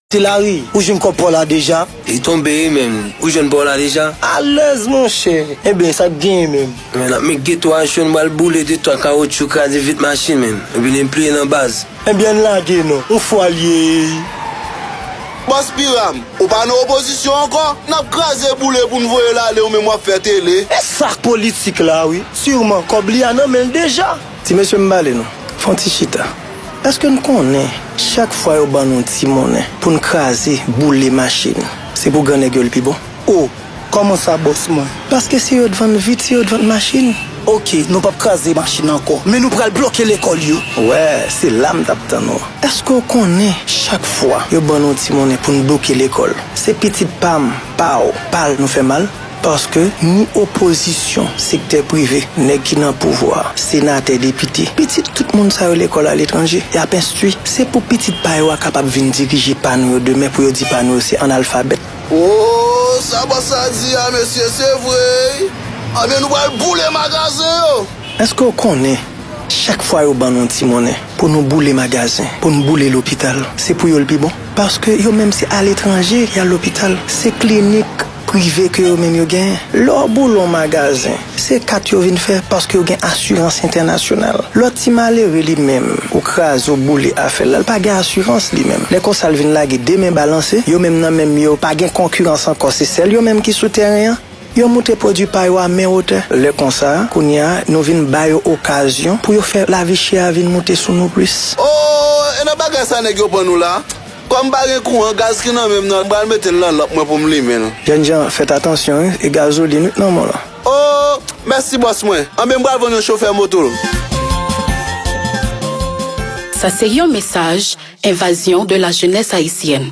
Ti Lari, ou jwenn kòb paw la deja? Li tonbe wi menn, ou jwenn paw la deja? Alèz monchè! Enben, sa k genyen menm? Enben, nap met geto a cho, nou pral boule de twa kawotchou, kraze vit machin menn, epi li pliye nan baz. Enben, ann lage non, on fwa l ye eyy! Bòs Piram, ou pa nan opozisyon ankò? Nap kraze boule pou n voye l ale ou menm wap fè tele? E sa k politik la wi! Sireman kòb li a nan men l deja! Ti mesye m pale nou, fè yon ti chita. Eske n konnen chak fwa yo ban nou ti monnen pou n kraze, boule machin, se pou gran nèg yo l pi bon? O, kòman sa bòs mwen? Paske se yo t vann vit, se yo t vann machin. Ok, nou p ap kraze machin ankò, men nou pral bloke lekòl yo. Wè, se la m t ap tann ou. Eske w konnen chak fwa yo ban nou ti monnen pou n bloke lekòl, se pitit pa m, pa w, pa l nou fè mal? Paske ni opozisyon, sektè prive, nèg ki nan pouvwa, senatè, depite, pitit tout moun sa yo lekòl aletranje, y ap enstwi. Se pou pitit pa yo a kapab vin dirije pa nou yo demen pou yo di pa nou yo se analfabèt. Ooh sa bòs sa di a mesye se vre ui anben nou pral boule magazen yo. Eske w konnen chak fwa yo ban nou yon ti monnen pou nou boule magazen, pou nou boule lopital se pou yo l pi bon? Paske yo menm se aletranje y al lopital, se klinik. prive ke yo menm yo genyen. Lè w boule yon magazen, se kat yo vin fè paske yo gen asirans entènasyonal. Lòt ti malere li menm, ou kraze ou boule afè l la, l pa gen asirans li menm. Lè konsa l vin lage 2 men balanse, yo menm nan menm yo pa gen konkirans ankò se sèl yo menm ki sou tèren an. Yo moute pwodui pa yo a men wotè. Lè konsa, kounye a, nou vin ba yo okazyon pou yo fè lavi chè a vin moute sou nou plis. Oo, e nan bagay sa nèg yo pran nou la? Kòm pa gen kouran gaz ki nan menm nan m pral metel nan lanp mwen poum limen l. Jènjan fèt atansyon wi e gazolin wi k nan menw lan. Oh mèsi bòs mwen. Anben m pral vann yon chofè moto l. Sa se yon mesaj envazyon de la jenès ayisyèn.